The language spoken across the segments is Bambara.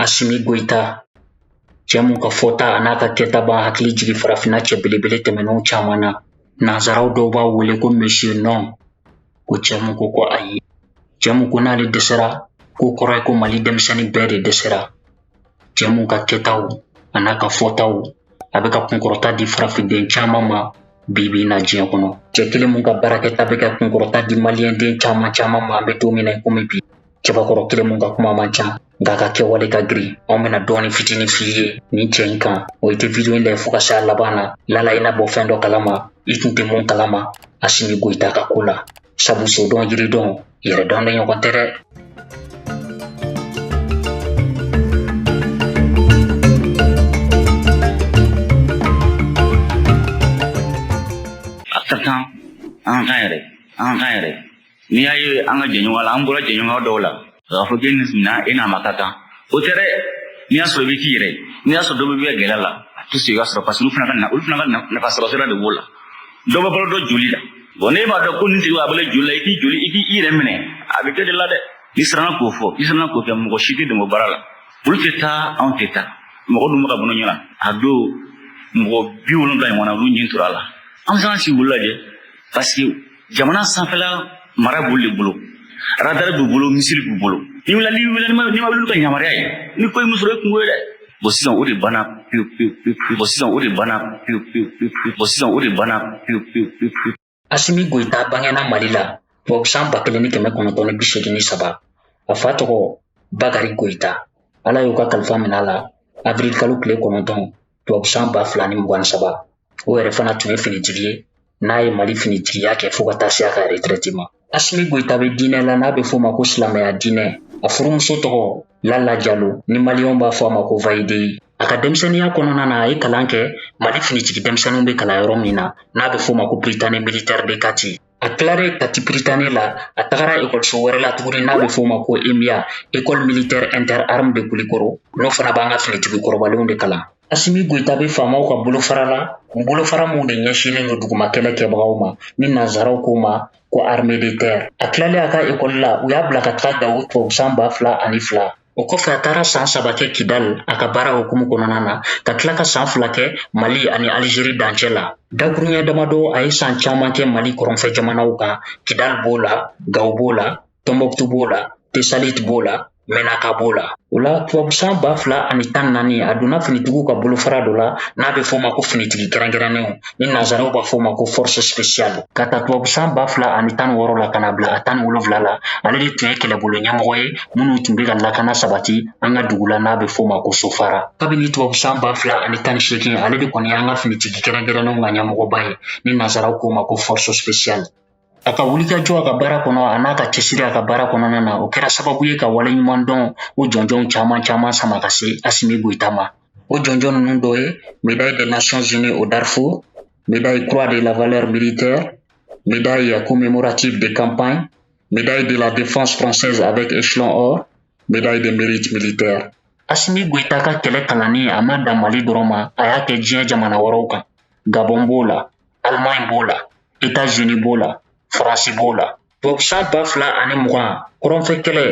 Asimi Goyita cɛ mun ka fɔta a n'a ka kɛta b'an hakili jigin farafinna cɛ belebele tɛmɛnenw caman na nanzaraw dɔw b'a wele ko monsieur non ko cɛ mun ko ko ayi cɛ mun ko n'ale dɛsɛra k'o kɔrɔ ye ko mali denmisɛnnin bɛɛ de dɛsɛra cɛ mun ka kɛtaw a n'a ka fɔtaw a bɛ ka kunkɔrɔta di farafinden caman ma bi bi in na diɲɛ kɔnɔ cɛ kelen mun ka baarakɛta bɛ ka kunkɔrɔta di maliyɛnden caman caman ma an bɛ don min na komi bi cɛbakɔrɔ kelen mun ka kuma man ca nka a ka kɛwale ka girin anw bɛna dɔɔni fitinin f'i ye nin cɛ in kan o i tɛ vidiyo in lajɛ fo ka se a laban na lala i na bɔ fɛn dɔ kalama i tun tɛ mun kalama Asimi Goyita ka ko la sabu sodɔn yiridɔn yɛrɛdɔn de ɲɔgɔn tɛ dɛ a ka kan an k'an yɛrɛ an k'an yɛrɛ n'i y'a ye an ka jɛɲɔgɔn la an bɔra jɛɲɔgɔnya dɔw la k'a fɔ k'e nin minna e n'a ma ka kan o tɛ dɛ n'i y'a sɔrɔ i bɛ k'i yɛrɛ n'i y'a sɔrɔ dɔ bɛ bɛ gɛlɛya la a tɛ se ka sɔrɔ parce que olu fana ka na olu fana ka nafa sɔrɔ sira de b'o la dɔ bɛ balo dɔ joli la bɔn n'e b'a dɔn ko nin tigi bɛ balo joli la i k'i joli i k'i yɛrɛ minɛ a bɛ kɛ de la dɛ n'i siranna k'o fɔ i siranna k'o kɛ mɔgɔ si tɛ dɛmɛ baara la olu tɛ taa anw tɛ taa mɔgɔ dun bɛ ka bolo ɲɔgɔn a don mɔgɔ bi wolonwula ɲɔgɔn na olu nin tora a la an bɛ se ka sigi olu lajɛ parce que jamana sanfɛla mara b'olu de bolo radar b'u bolo misili b'u bolo n'i wulila n'i wulila n'i ma olu ka yamaruya ɲini ko min sɔrɔ e kunko ye dɛ bɔn sisan o de banna pewu pewu pewu bɔn sisan o de banna pewu pewu pewu bɔn sisan o de banna pewu pewu pewu. asimi goyita bangena mali la tubabu san ba kelen ni kɛmɛ kɔnɔntɔn ni bi seegin ni saba a fa tɔgɔ bakari goyita ala y'u ka kalifa minɛ a la avril kalo tile kɔnɔntɔn tubabu san ba fila ni mugan ni saba o yɛrɛ fana tun ye finitigi ye n'a ye mali finitigiya kɛ fo ka taa se a ka retraite ma asimi goyita bɛ diinɛ la n'a bɛ f'o ma ko silamɛya diinɛ a furumuso tɔgɔ lala jalo ni maliyɛnw b'a fɔ a ma ko validée a ka denmisɛnninya kɔnɔna na a ye kalan kɛ mali finitigi denmisɛnninw bɛ kalan yɔrɔ min na n'a bɛ f'o ma ko Prytanée militaire de kati A tilalen Kati Prytanée la a tagara ekɔliso wɛrɛ la tuguni n'a bɛ f'o ma ko EMIA école militaire interarmes de Kulikɔrɔ n'o fana b'an ka finitigi kɔrɔbalenw de kalan asimi Goyita bɛ faamaw ka bolofara la bolofara minnu de ɲɛsinlen don duguma kɛlɛ kɛbagaw ma ni nanzaraw k'o ma ko armée de terre a tilalen a ka ekɔli la u y'a bila ka taga Gawo tubabu san ba fila ani fila O kɔfɛ a tagara san saba kɛ kidali a ka baara hukumu kɔnɔna na ka tila ka san fila kɛ mali ani aliziri dancɛ la dakuruɲɛ damadɔ a ye san caman kɛ mali kɔrɔnfɛ jamanaw kan kidali b'o la gawo b'o la tɔnbɔkutu b'o la tesaliti b'o la mɛnaka b'o la o la tubabu san ba fila ani tan naani a donna finitigiw ka bolofara dɔ la n'a bɛ f'o ma ko finitigi kɛrɛnkɛrɛnnenw ni nanzaraw b'a fɔ o ma ko force spéciale ka ta tubabusan ba fila ani tan wɔɔrɔ la ka na bila a tan ni wolonwula la ale de tun ye kɛlɛbolo ɲɛmɔgɔ ye minnu tun bɛ ka lakana sabati an ka dugu la n'a bɛ fɔ o ma ko sofara kabini tubabusan ba fila ani tan ni seegin ale de kɔni y'an ka finitigi kɛrɛnkɛrɛnnenw ka ɲɛmɔgɔba ye ni nanzaraw k'o ma ko force spéciale a ka wulikajɔ a ka baara kɔnɔ a n'a ka cɛsiri a ka baara kɔnɔna na o kɛra sababu ye ka waleɲumandɔn o jɔnjɔnw caman caman sama ka se asimi goyita ma o jɔnjɔn ninnu dɔ ye médaille des nations unies au darfour médaille croix de la valeur militaire médaille commémorative de campagne médaille de la défense française avec échelon or médaille de mérite militaire asimi goyita ka kɛlɛ kalanni a ma dan mali dɔrɔn ma a y'a kɛ diɲɛ jamana wɛrɛw kan gabɔn b'o la Alimaɲi b'o la Etazini b'o la Faransi b'o la tubabusan ba fila ani mugan kɔrɔnfɛ kɛlɛ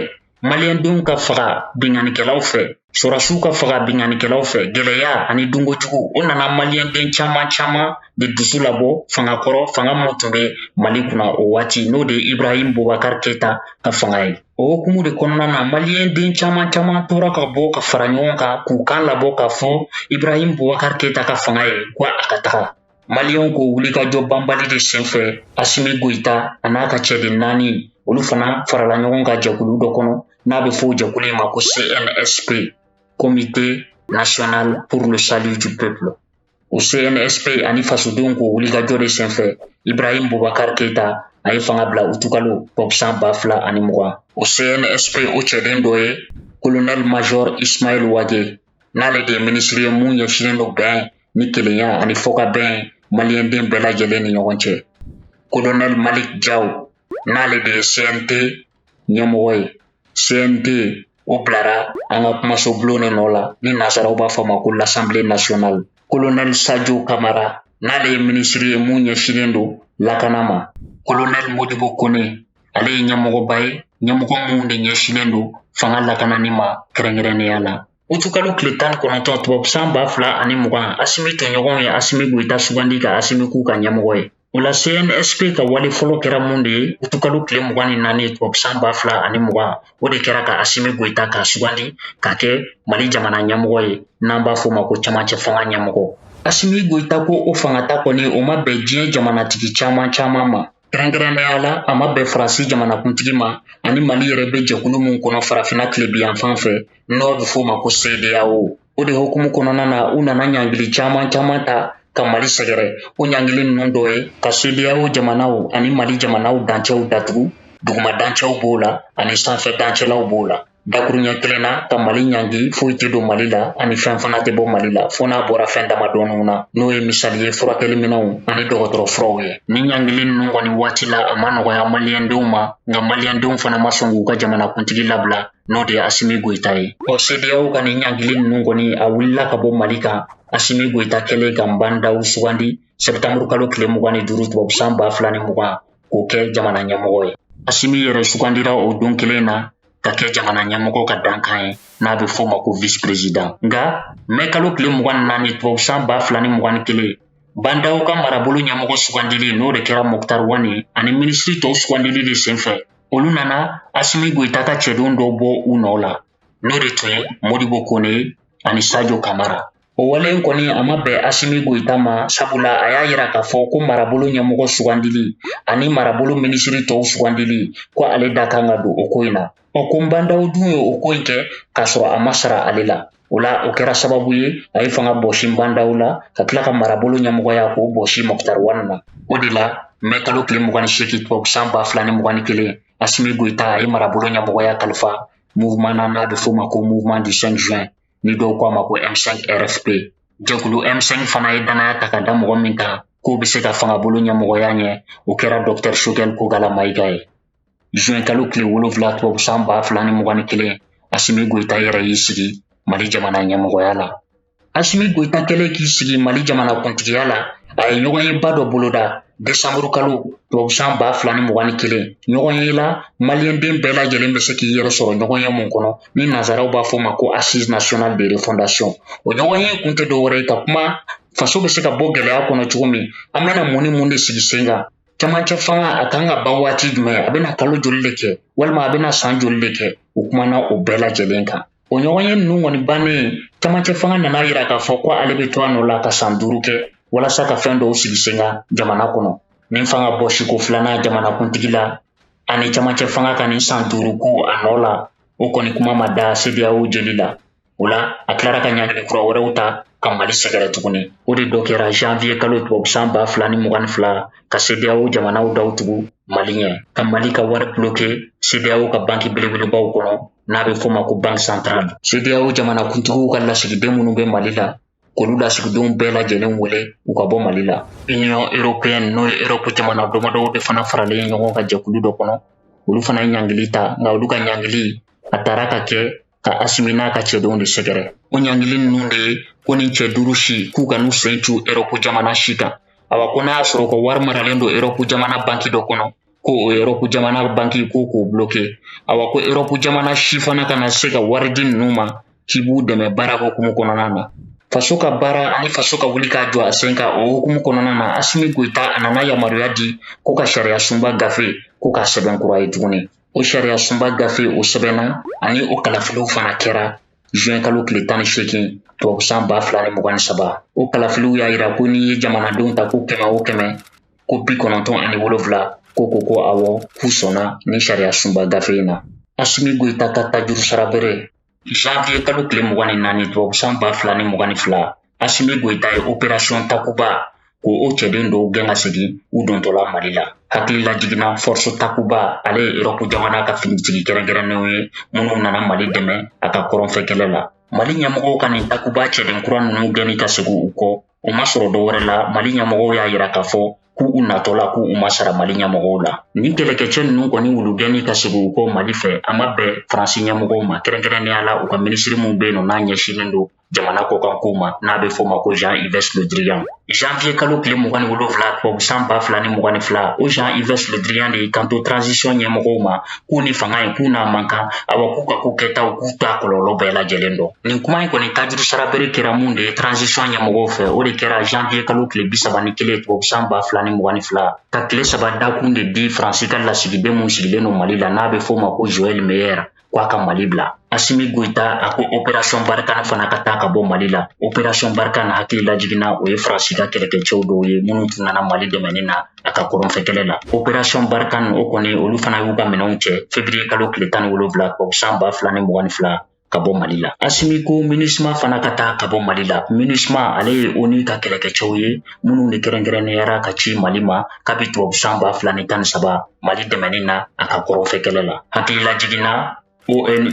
maliyɛndenw ka faga binkannikɛlaw fɛ sɔrɔdasiw ka faga binkannikɛlaw fɛ gɛlɛya ani dunkojugu o nana maliyɛnden caman caman de dusu labɔ fanga kɔrɔ fanga min tun bɛ mali kunna o waati n'o de ye ibrahim bobakar keyita ka fanga ye o hukumu de kɔnɔna na maliyɛnden caman caman tora ka bɔ ka fara ɲɔgɔn kan k'u kan labɔ k'a fɔ ibrahim bobakar keyita ka fanga ye ko a ka taga Maliyɛnw k'o wulikajɔ banbali de senfɛ Asimi Goyita a n'a ka cɛden naani olu fana farala ɲɔgɔn kan jɛkulu dɔ kɔnɔ n'a bɛ fɔ o jɛkulu in ma ko CNSP Comité national pour le salut du peuple o CNSP ani fasodenw k'o wulikajɔ de senfɛ Ibrahim Boubacar Keita a ye fanga bila utukalo tubabusan ba fila ani mugan o CNSP o cɛden dɔ ye colonel major Ismail Wage n'ale de ye minisiri ye mun ɲɛsinnen don bɛn ni kelenya ani fɔkabɛn maliyɛnden bɛɛ lajɛlen ni ɲɔgɔn cɛ kolonɛli malik jaw n'ale de ye cnt ɲɛmɔgɔ ye cnt o bilara an ka kumasobulon de nɔ la ni nanzaraw b'a fɔ ma ko l'assemblée nationale kolonɛli sajo kamara n'ale ye minisiri ye mun ɲɛsinnen don lakana ma kolonɛli modibo kone ale ye ɲɛmɔgɔba ye ɲɛmɔgɔ min de ɲɛsinnen don fanga lakanani ma kɛrɛnkɛrɛnnenya la utukalo tile tan kɔnɔntɔn tubabusan ba fila ani mugan asimi tɔɲɔgɔnw ye asimi goyita sugandi ka asimi k'u ka ɲɛmɔgɔ ye o la cnsp ka wale fɔlɔ kɛra mun de ye utukalo tile mugan ni naani tubabusan ba fila ani mugan o de kɛra ka asimi goyita ka sugandi ka kɛ mali jamana ɲɛmɔgɔ ye n'an b'a fɔ ma ko camancɛ fanga ɲɛmɔgɔ asimi goyita ka o fangata kɔni o ma bɛn diɲɛ jamanatigi caman caman ma kɛrɛnkɛrɛnnenya la a ma bɛn faransi jamanakuntigi ma ani mali yɛrɛ bɛ jɛkulu min kɔnɔ farafina tilebinyanfan fɛ n'o bɛ f'o ma ko sedeyawo o de hukumu kɔnɔna na u nana ɲangili caman caman ta ka mali sɛgɛrɛ o ɲangili ninnu dɔ ye ka sedeyawo jamanaw ani mali jamanaw dancɛw datugu duguma dancɛw b'o la ani sanfɛ dancɛlaw b'o la dakuruɲɛ kelen na ka mali ɲangi foyi tɛ don mali la ani fɛn fana tɛ bɔ mali la fo n'a bɔra fɛn damadɔninw na n'o ye misali ye furakɛli minɛnw ani dɔgɔtɔrɔ furaw ye nin ɲangili ninnu kɔni waati la a ma nɔgɔya maliyɛndenw ma nka maliyɛndenw fana ma sɔn k'u ka jamanakuntigi labila n'o de ye asimi goyita ye ɔ sedeyaw ka nin ɲangili ninnu kɔni a wulila ka bɔ mali kan asimi goyita kɛlen ka nbandaw sugandi sɛbitanburu kalo tile mugan ni duuru tubabusan ba fila ni mugan k'o kɛ jamana ɲɛmɔgɔ ye asimi yɛrɛ sugandira o don kelen na ka kɛ jamana ɲɛmɔgɔ ka dankan ye n'a bɛ f'o ma ko vice president nka mɛ kalo tile mugan ni naani tubabu san ba fila ni mugan ni kelen bandaw ka marabolo ɲɛmɔgɔ sugandili n'o de kɛra moktar wani ani minisiri tɔw sugandili de senfɛ olu nana asimi goyita ka cɛdenw dɔw bɔ u nɔ la n'o de tun ye modibo kone ani sajo kamara O wale in kɔni a ma bɛn Asimi Goyita ma sabula a y'a yira k'a fɔ ko marabolo ɲɛmɔgɔ sugandili ani marabolo minisiri tɔw sugandili ko ale da kan ka don o ko in na ɔ ko nbandaw dun ye o ko in kɛ k'a sɔrɔ a ma sara ale la o la o kɛra sababu ye a ye fanga bɔsi nbandaw la ka tila ka marabolo ɲɛmɔgɔya k'o bɔsi mɔkutari wani na o de la mɛ kalo tile mugan ni seegin tubabu san ba fila ni mugan ni kelen asimi goyita a ye marabolo ɲɛmɔgɔya kalifa mouvement na n'a bɛ f'o ma ko mouvement du 5 juin ni dɔw ko a ma ko m5 rfp jɛkulu m5 fana ye danaya ta ka da mɔgɔ min kan k'o bɛ se ka fangabolo ɲɛmɔgɔya ɲɛ o kɛra dɔktɛr sogɛl kogala mayiga ye zuwɛn kalo tile wolonfila tubabu san ba fila ni mugan ni kelen asimi goyita yɛrɛ y'i sigi mali jamana ɲɛmɔgɔya la asimi goyita kɛlen k'i sigi mali jamana kuntigiya la a ye ɲɔgɔnyeba dɔ boloda desanburu kalo tubabusan ba fila ni mugan ni kelen ɲɔgɔnye la maliyɛnden bɛɛ lajɛlen bɛ se k'i yɛrɛ sɔrɔ ɲɔgɔnye mun kɔnɔ ni nazaraw b'a fɔ ma ko assise nationale de refondation o ɲɔgɔnye kun tɛ dɔwɛrɛ ye ka kuma faso bɛ se ka bɔ gɛlɛya kɔnɔ cogo min an bɛna mun ni mun de sigi sen kan camancɛ fanga a kan ka ban waati jumɛn a bɛna kalo joli de kɛ walima a bɛna san joli de kɛ o kumana o bɛɛ lajɛlen kan O ɲɔgɔnye ninnu kɔni bannen camancɛ fanga nan'a yira k'a fɔ ko ale bɛ to a nɔ la ka san duuru kɛ walasa ka fɛn dɔw sigi sen kan jamana kɔnɔ nin fanga bɔsiko filanan jamanakuntigi la ani camancɛ fanga ka nin san duuru ko a nɔ la o kɔni kuma ma da sedeyawo jeli la o la a tilara ka ɲangili kura wɛrɛw ta ka mali sɛgɛrɛ tuguni o de dɔ kɛra janviye kalo tubabusan ba fila ni mugan ni fila ka sedeyawo jamanaw daw tugu mali ɲɛ ka mali ka wari buloke sedeyawo ka banki belebelebaw kɔnɔ n'a bɛ f'o ma ko banki santarali sedeyawo jamanakuntigiw ka lasigiden minnu bɛ mali la k'olu lasigidenw bɛɛ lajɛlen wele u ka bɔ mali la union européenne n'o ye europe jamana damadɔw de fana faralen ɲɔgɔn kan jɛkulu dɔ kɔnɔ olu fana ye ɲangili ta nka olu ka ɲangili a taara ka kɛ ka asimi n'a ka cɛdenw de sɛgɛrɛ o ɲangili ninnu de ye ko nin cɛ duuru si k'u kan'u sen cu europe jamana si kan awa ko n'a y'a sɔrɔ u ka wari maralen don europe jamana banki dɔ kɔnɔ ko o erɔpu jamana banki ko k'o bloke awa ko erɔpu jamana si fana kana se ka wari di ninnu ma k'i b'u dɛmɛ baara hokumu kɔnɔna na faso ka baara ani faso ka wuli ka jɔ a sen kan o hokumu kɔnɔna na asimi goyita a nana yamaruya di ko ka sariya sunba gafe ko k'a sɛbɛn kura ye tuguni o sariya sunba gafe o sɛbɛnna ani o kalafiliw fana kɛra juin kalo tile tan ni seegin tubabusan ba fila ni mugan ni saba o kalafiliw y'a yira ko n'i ye jamanadenw ta ko kɛmɛ o kɛmɛ ko bi kɔnɔntɔn ani wolonfila ko ko ko awɔ k'u sɔnna ni sariya sunba gafe in na asimi goyita ka tajuru sara bere janvier kalo tile mugan ni naani tubabusan ba fila ni mugan ni fila asimi goyita ye operasiyɔn takuba ko o cɛden dɔw gɛn ka segin u dontɔ la mali la hakili lajiginna force takuba ale ye erɔpu jamana ka finitigi kɛrɛnkɛrɛnnenw ye minnu nana mali dɛmɛ a ka kɔrɔnfɛ kɛlɛ la mali ɲɛmɔgɔw ka nin takuba cɛden kura ninnu gɛnni ka segi u kɔ o ma sɔrɔ dɔ wɛrɛ la mali ɲɛmɔgɔw y'a yira k'a fɔ k'u natɔ la k'u ma sara mali ɲɛmɔgɔw la ni kɛlɛkɛcɛ ninnu kɔni olu gɛnni ka segi u kɔ mali fɛ a ma bɛn faransi ɲɛmɔgɔw ma kɛrɛnkɛrɛnnenya la u ka minisiri min be yen nɔ n'a ɲɛsinnen don jamana kɔkankow ma n'a be f'o ma ko jean yves le drian janvier kalo tile mugan ni wolonfila tubabusan ba fila ni mugan ni fila o jean yves le drian de y'i kanto transition ɲɛmɔgɔw ma k'u ni fanga in k'u n'a man kan awa k'u ka ko kɛtaw k'u t'a kɔlɔlɔ bɛɛ lajɛlen dɔn nin kuma in kɔni tajuru sara bere kɛra mun de ye transition ɲɛmɔgɔw fɛ o de kɛra janvier kalo tile bisaba ni kelen tubabu san ba fila ni mugan ni fila ka tile saba dakun de di faransi ka lasigiden mun sigilen don mali la n'a bɛ f'o ma ko joel meyer ko a ka mali bila asimi goyita a ko operasɔn barikana fana ka taa ka bɔ mali la operasɔn barikana hakili lajiginna o ye faransi ka kɛlɛkɛcɛw dɔw ye minnu tun nana mali dɛmɛni na a ka kɔrɔnfɛ kɛlɛ la operasɔn barikana o kɔni olu fana y'u ka minɛnw cɛ fevriye kalo tile tan ni wolonwula tubabu san ba fila ni mugan ni fila ka bɔ mali la asimi ko minisma fana ka taa ka bɔ mali la minisma ale ye oni ka kɛlɛkɛcɛw ye minnu de kɛrɛnkɛrɛnneyara ka ci mali ma kabi tubabu san ba fila ni tan ni saba mali dɛmɛni na a ka kɔrɔnfɛ kɛlɛ la hakili lajiginna ONU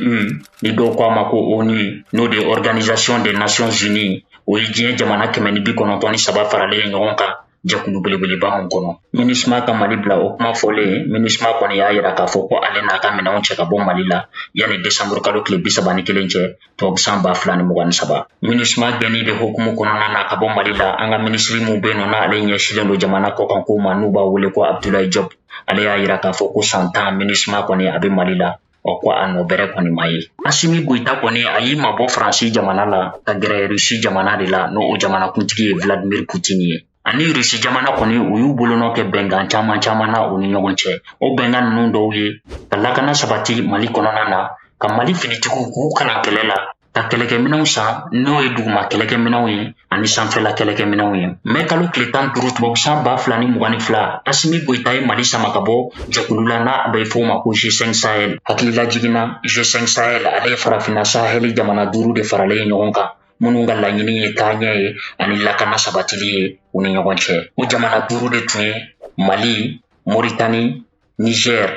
ni dɔw ko a ma ko ONI n'o de ye Organisation des Nations Unies o ye diɲɛ jamana kɛmɛ ni bi kɔnɔntɔn ni saba faralen ɲɔgɔn kan jɛkulu belebeleba min kɔnɔ minisma ka mali bila o kuma fɔlen minisma kɔni y'a yira k'a fɔ ko ale n'a ka minɛnw cɛ ka bɔ mali la yanni desanburu kalo tile bi saba ni kelen cɛ tubabu san ba fila ni mugan ni saba minisma gɛnni de hukumu kɔnɔna na ka bɔ mali la an ka minisiri min bɛ yen nɔ n'ale ɲɛsilen don jamana kɔkan ko ma n'u b'a wele ko abdulayi jɔpu ale y'a yira k'a fɔ ko san tan minisma kɔni a bɛ mali la ɔ ko a nɔ bɛrɛ kɔni ma ye asimi goyita kɔni a y'i mabɔ faransi jamana la ka gɛrɛ rusi jamana de la n'o jamanakuntigi ye vladimir putin ye ani rusi jamana kɔni u y'u bolonɔ kɛ bɛnkan caman caman na u ni ɲɔgɔn cɛ o bɛnkan ninnu dɔw ye ka lakana sabati mali kɔnɔna na ka mali finitigiw k'u kalan kɛlɛ la ka kɛlɛkɛminɛw san n'o ye duguma kɛlɛkɛminɛw ye ani sanfɛla kɛlɛkɛminɛw ye mɛ kalo tile tan duuru tubabu san ba fila ni mugan ni fila asimi goyita ye mali sama ka bɔ jɛkulu la n'a bɛ fɔ ma ko g5 sahel hakililajigin na g5 sahel ale ye farafinna saheli jamana duuru de faralen ye ɲɔgɔn kan minnu ka laɲini ye taaɲɛ ye ani lakana sabatili ye u ni ɲɔgɔn cɛ o jamana duuru de tun ye mali moritani niger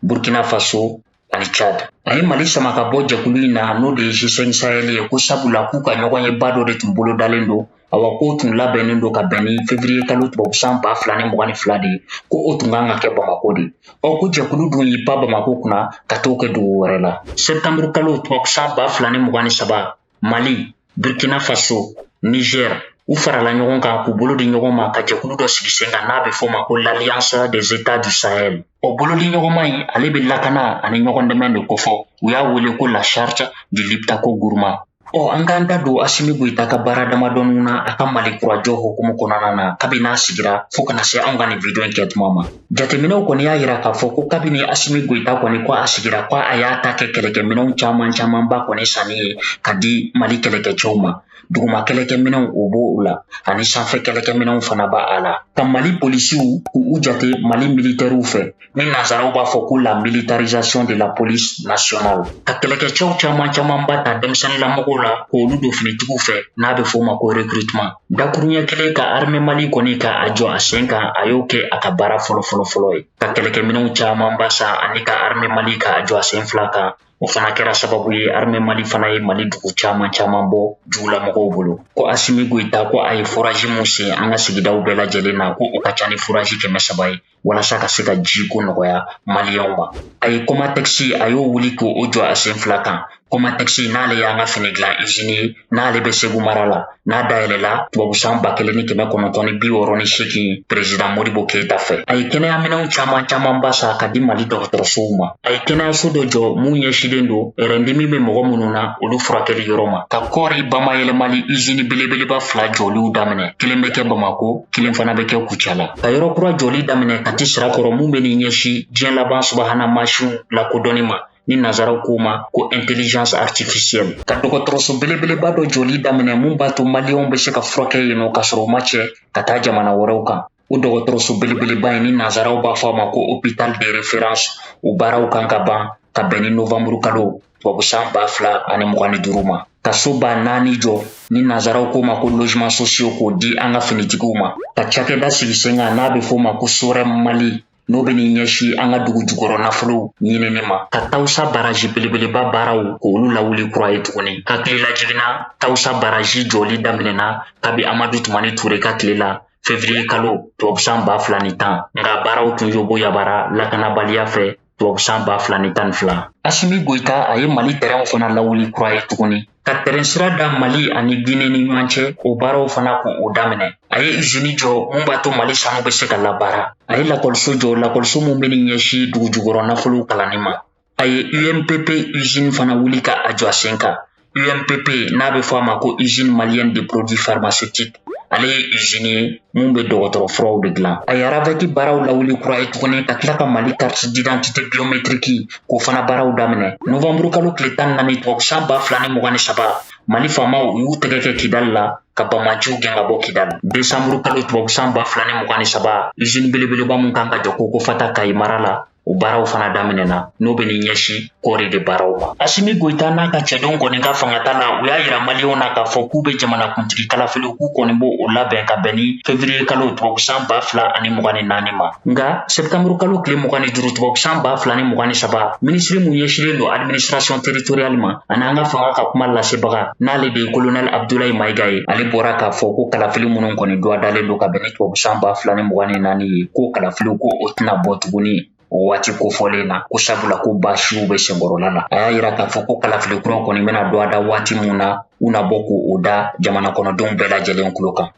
burkina faso ani chad a ye mali sama ka bɔ jɛkulu in na n'o de ye g5 sahel ye ko sabula k'u ka ɲɔgɔnyeba dɔ de tun bolodalen don awa k'o tun labɛnnen don ka bɛn ni fevriye kalo tubabu san ba fila ni mugan ni fila de ye ko o tun kan ka kɛ bamako de ɔ ko jɛkulu dun y'i pan bamako kunna ka t'o kɛ dugu wɛrɛ la septanburu kalo tubabu san ba fila ni mugan ni saba mali burkina faso niger u farala ɲɔgɔn kan k'u bolo di ɲɔgɔn ma ka jɛkulu dɔ sigi sen kan n'a bɛ f'o ma ko l'alliance des états du sahel o bolodiɲɔgɔnma in ale bɛ lakana ani ɲɔgɔn dɛmɛ de kofɔ u y'a wele ko la charte du liptako guruma ɔ an k'an da don asimi goyita ka baara damadɔninw na a ka malikura jɔ hukumu kɔnɔna na kabini n'a sigira fɔɔ ka na se anw ka nin vidiyo in kɛ tuma ma jateminɛw kɔni y'a yira k'a fɔ ko kabini asimi goyita kɔni ko a sigira ko a y'a ta kɛ kɛlɛkɛminɛw caman camanba kɔni sanni ye ka di mali kɛlɛkɛcɛw ma duguma kɛlɛkɛminɛw o b'o la ani sanfɛ kɛlɛkɛminɛw fana b'a la ka mali polisiw k'u jate mali militɛriw fɛ ni nansaraw b'a fɔ ko la militarisation de la police nationale ka kɛlɛkɛcɛw caman camanba ta denmisɛnnilamɔgɔw la k'olu don finitigiw fɛ n'a bɛ f'o ma ko recrutement Dakuruɲɛ kelen ka armɛ mali kɔni ka a jɔ a sen kan a y'o kɛ a ka baara fɔlɔ fɔlɔ fɔlɔ ye ka kɛlɛkɛminɛw camanba san ani ka armɛ mali ka a jɔ a sen fila kan o fana kɛra sababu ye armɛ mali fana ye mali dugu caman caman bɔ jugulamɔgɔw bolo ko asimi goyita ko a ye furaji mun sen an ka sigidaw bɛɛ lajɛlen na ko o ka ca ni furaji kɛmɛ saba ye walasa ka se ka jiko nɔgɔya maliyɛnw ma a ye kɔmatɛkisi a y'o wuli k'o jɔ a sen fila kan kɔmatɛkisi n'ale y'an ka fini dilan izini ye n'ale bɛ segu mara la n'a dayɛlɛla tubabusan ba kelen ni kɛmɛ kɔnɔntɔn ni bi wɔɔrɔ ni seegin perezidan modibo keyita fɛ a ye kɛnɛyaminɛw caman camanba san ka di mali dɔgɔtɔrɔsow ma a ye kɛnɛyaso dɔ jɔ mun ɲɛsilen don rɛndimi bɛ mɔgɔ minnu na olu furakɛli yɔrɔ ma ka kɔɔri bamayɛlɛmali izini belebeleba fila jɔliw daminɛ kelen bɛ kɛ bamako kelen fana bɛ kɛ kucala ka yɔrɔ kura jɔli daminɛ kati sirakɔrɔ mun bɛ n'i ɲɛsin diɲɛ laban subahana mansinw lakodɔnni ma ni nazaraw k'o ma ko intelligence artificielle ka dɔgɔtɔrɔso belebeleba dɔ jɔli daminɛ mun b'a to maliyɛnw bɛ se ka furakɛ yen nɔ ka sɔrɔ u ma cɛ ka taa jamana wɛrɛw kan o dɔgɔtɔrɔso belebeleba in ni nazaraw b'a fɔ a ma ko hôpital de référence o baaraw kan ka ban ka bɛn ni novamburu kalo tubabu san ba fila ani mugan ni duuru ma ka so ba naani jɔ ni nazaraw k'o ma ko logements sociaux k'o di an ka finitigiw ma ka cakɛda sigi sen kan n'a be f'o ma ko sorem mali n'o be ni ɲɛsi an ka dugu jukɔrɔ nafolow ɲinini ma ka tawusa baraji belebeleba baaraw k'olu lawuli kura ye tuguni hakililajigin na tawusa baraji jɔli daminɛna kabi amadu tumani ture ka tile la fevriye kalo tubabusan ba fila ni tan nka baaraw tun yoboyabara lakanabaliya fɛ tubabusan ba fila ni tan fila asimi goyita a ye mali tɛrɛnw fana lawuli kura ye tuguni ka tɛrɛn sira da mali ani gine ni ɲɔgɔn cɛ o baaraw fana k'o daminɛ a ye izini jɔ mun b'a to mali sanu bɛ se ka labaara a ye lakɔliso jɔ lakɔliso min bɛ ni ɲɛsi dugujukɔrɔ nafolow kalanni ma a ye umpp izini fana wuli ka a jɔ a sen kan UMPP n'a bɛ fɔ a ma ko usine malienne de produits pharmaceutiques ale ye usine ye mun bɛ dɔgɔtɔrɔ furaw de dilan a ye aravɛki baaraw lawuli kura ye tuguni ka tila ka mali carte d'identité biométrique k'o fana baaraw daminɛ novanburu kalo tile tan ni naani tubabusan ba fila ni mugan ni saba mali famaw u y'u tɛgɛ kɛ kidali la ka banbaanciw gɛn ka bɔ kidali desanburu kalo tubabusan ba fila ni mugan ni saba usine belebeleba min kan ka jɔ kokofata kayi mara la O baaraw fana daminɛna n'o bɛ ni ɲɛsin kɔɔri de baaraw ma asimi goyita n'a ka cɛdenw kɔni ka fangata la u y'a yira maliyɛnw na k'a fɔ k'u bɛ jamanakuntigi kalafiliw k'u kɔni b'o o labɛn ka bɛn ni fevriye kalo tubabusan ba fila ani mugan ni naani ma nka sɛptanburu kalo tile mugan ni duuru tubabusan ba fila ni mugan ni saba minisiri mun ɲɛsilen don administration territoriale ma ani an ka fanga ka kuma lasebaga n'ale de ye kolonɛli abdulayi mayiga ye ale bɔra k'a fɔ ko kalafili minnu kɔni duwadalen don ka bɛn ni tubabu san ba fila ni mugan ni naani ye ko kalafiliw ko o tɛna bɔ tuguni o waati kofɔlen na ko sabula ko baasiw bɛ senkɔrɔla la a y'a yira k'a fɔ ko kalafili kura kɔni bɛna duwada waati min na u na bɔ k'o da jamana kɔnɔdenw bɛɛ lajɛlen kulo kan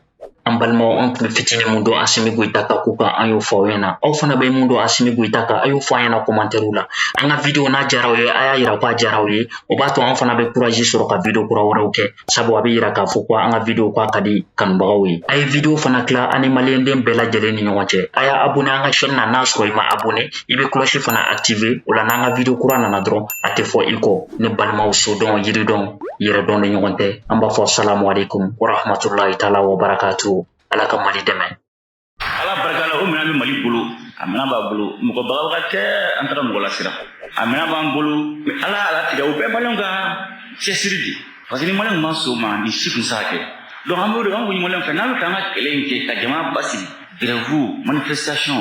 an balimaw an tun bɛ fitinin mun dɔn asimi goyita ka ko kan an y'o fɔ aw ɲɛna aw fana bɛ mun dɔn asimi goyita kan a y'o fɔ an ɲɛna kɔmantɛriw la an ka video n'a jara aw ye a y'a yira ko a jara aw ye o b'a to an fana bɛ kurazi sɔrɔ ka video kura wɛrɛw kɛ sabu a bɛ yira k'a fɔ ko an ka video ko a ka di kanubagaw ye a ye video fana tila an ni maliyɛnden bɛɛ lajɛlen ni ɲɔgɔn cɛ a y'a abone an ka chaîne na n'a sɔrɔ i ma abone i bɛ cloche fana activer o la n'an ka video kura nana dɔrɔn a tɛ fɔ i kɔ ne balimaw sodɔn yiridɔn yɛrɛdɔn ni ɲɔgɔn tɛ an b'a fɔ salamu alaikum warahmatulahi taala wa barakatu ala ka mali dɛmɛ ala barika la o minɛn bɛ mali bolo a minɛn b'a bolo mɔgɔ bagabaga tɛ an taara mɔgɔ lasiran a minɛn b'an bolo mɛ ala ala tigɛ o bɛɛ maliyɛnw ka cɛsiri de parce que ni maliyɛnw ma sɔn o ma nin si tun tɛ se ka kɛ donc an b'o de an kun ye maliyɛnw fɛ n'an bɛ fɛ an ka kɛlɛ in kɛ ka jamana basigi grève manifestation